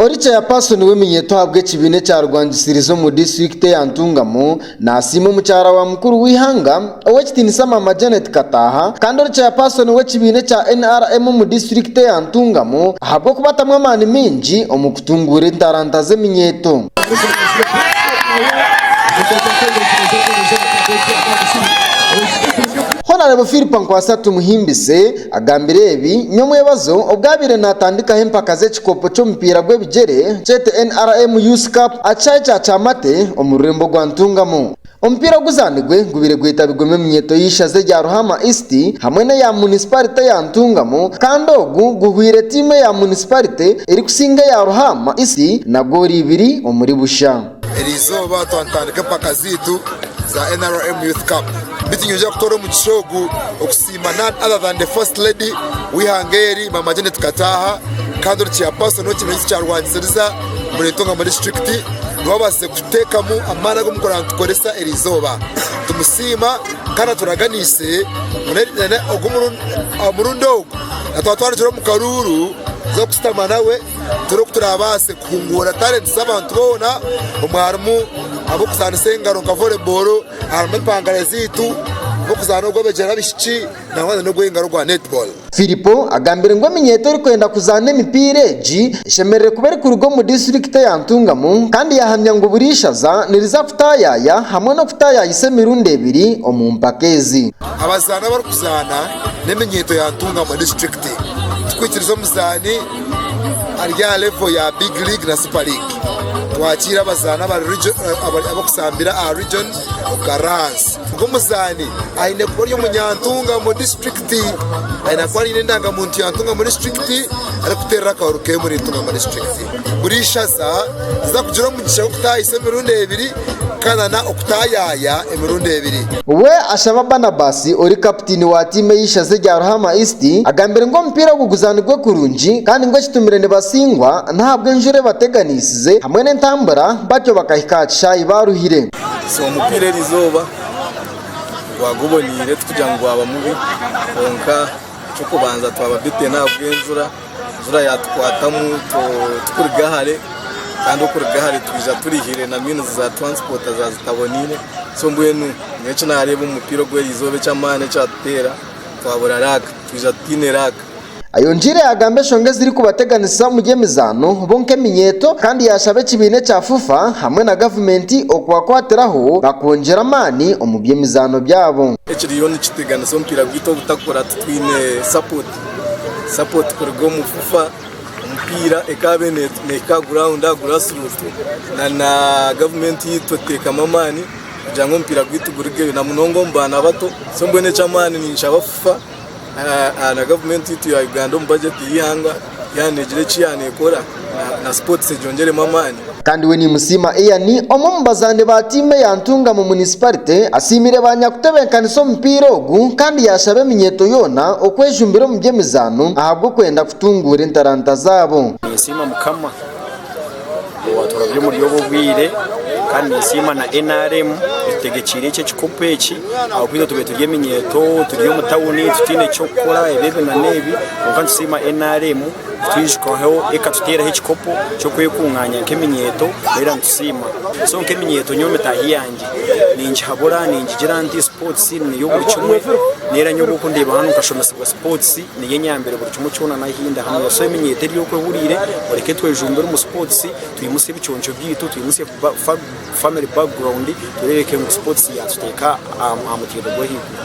Ori Chairperson w'eminyeeto ahabw'ekibiina ekyarwangisiriza omu disiturikiti ya Ntungamo nasiima omukyara wa mukuru w'eihanga ow'ekitiinisa Maama Janet Kataaha kandi ori Chairperson w'ekibiina ekya nrm omu disiturikiti ya Ntungamo ahabw'okubatamu amaani maingi omu kutunguura entaranta z'eminyeeto. Honarebo Phillipa Nkwasa Tumuhimbise Agambire ebi nyomwebazo obwo abaire natandikaho empaka z'ekikopo ky'omupiira gw'ebigyere kyete NRM Youth Cup aha kishaayi kya Kyamate omu rurembo rwa Ntungamo. Omupiira oguzanirwe gubaire gwetabirwemu eminyeeto y'eishaza erya Ruhama East hamwe n'eya munisiparite ya Ntungamo kandi ogu guhweire tiimu eya munisiparite erikusinga eya Ruhama East na goolo ibiri omuri busha. Erizooba twatandika empaka zaitu za NRM Youth Cup bitu nyija kutoora omugisha ogu. Siima none other than the first lady w'eihanga eri Mama Janet Kataaha kandi ori chairperson w'ekibiina eki kyarwanisiiriza omuriro entunga omuri disiturikiti niwe abaasize kuteekamu amaani agu murikworora nitukoresa eri izooba. Nitumusiima kandi aturaganiise ngu nari ogu murundi aha murundi ogu natwatwarikira omu karuuru tuze kushutama nawe turebe oku turaabaase kuhunguura talenti z'abantu boona omwe harimu ab'okuzaanisa engaro nka volebooro. harimu empangare zaitu nk'okuzaana ogw'ebigyere abaishiki nangwa na n'ogw'engaro ogwa netball. Firipo agambire ngu eminyeeto erikwenda kuzaana emipiira egi eshemerire kuba erikuruga omu disiturikiti eya Ntungamo kandi yahamya ngu buri ishaza niriza kutaayaaya hamwe n'okutaayaayisa emirundi ebiri omu mpaka ezi. Abazaani abarikuzaana n'eminyeeto ya Ntungamo disiturikiti tikwikiriza omuzaani ari aha levo ya big league na super league twakiira abazaani abarikuzaanira aha region Ukaransi ngu omuzaani aine kuba ari omunyantunga omu disiturikiti aine kuba aine endangamuntu ya ntunga omu disiturikiti arikuteerera akahuuru keye omu ntunga omu disiturikiti buri ishaza riza kugira omugisha gw'okutaahisa emirundi ebiri Kana na okutayaaya emirundi ebiri. We ashaba Banabasi ori kaputiini wa tiimu ey'eishaza erya Ruhama East agambire ngu omupiira ogu guzaanirwe kurungi kandi ngu ekitumire nibasingwa n'ahabw'enjura ebateganiisize hamwe n'entambura batyo bakahika aha kishaayi baaruhire. So omupiira eri izooba gwaguboneire, tikugira ngu gwaba mubi kwonka eky'okubanza twaba beaten ahabw'enjura. enjura yatukwatamu tukuruga hare kandi okuruga hare twija turihire na means za transport za zitaboniire so mbwenu nyowe eki nareeba omu mupiira ogu erizooba eky'amaani ekyatuteera twabura luck twija tutaine luck. Ayongiire yagamba enshonga ezirikubateganisa omuri emizaano bo nk'eminyeeto kandi yashaba ekibiina ekya FUFA hamwe na gavumenti okubakwatiraho bakwongyera amaani omu by'emizaano byabo. Ekiriyo nikiteganisa omupiira gwaitu obutakora titwine support Sapoti kuruga omu FUFA, omupiira ekaabe neehika guraunda, gurasiruuti, na gavumenti yaitu eteekamu amaani kugira ngu omupiira gwaitu gurugeyo na munonga omu baana bato. So mbwenu eky'amaani ninshaba FUFA na gavumenti yaitu ya Uganda omu bajeti y'eihanga, yaaba neegira eki yaaneekora. na sports egyongyeremu amaani. Kandi we Nimusiima Ian omwe omu bazaani ba tiimu eya Ntunga mu munisiparite asiimire ba nyakutebenkanisa omupiira ogu kandi yaashaba eminyeeto yoona okwejumbira omu by'emizaano ahabw'okwenda kutunguura entaranta zaabo. Ninsiima Mukama owaaturabire omuri obu obwire kandi ninsiima na nrm etutegekyeire eki ekikopo eki ahabw'okuba itwe tubaire turi eminyeeto turi omu tawuni tutaine ky'okukora ebi ebi na n'ebi kwonka nitusiima nrm. Kutwijukaho ekatuteeraho ekikopo ky'okwekungaanya nk'eminyeeto twayera nitusiima. So nk'eminyeeto nyowe mitaahi yangye ningihabura ningigira nti sports niyo buri kimwe n'era nyowe obwokundeeba hanu nkashomesibwa sports niyo enyambire buri kimwe kyona nahindi hanu. So eminyeeto eri oku ehuriire mureke twejumbire omu sports twimutsye ebiconco byaitu twimutsye family background tureebeke ngu sports yaatuteeka aha mutaiba gw'ahaiguru.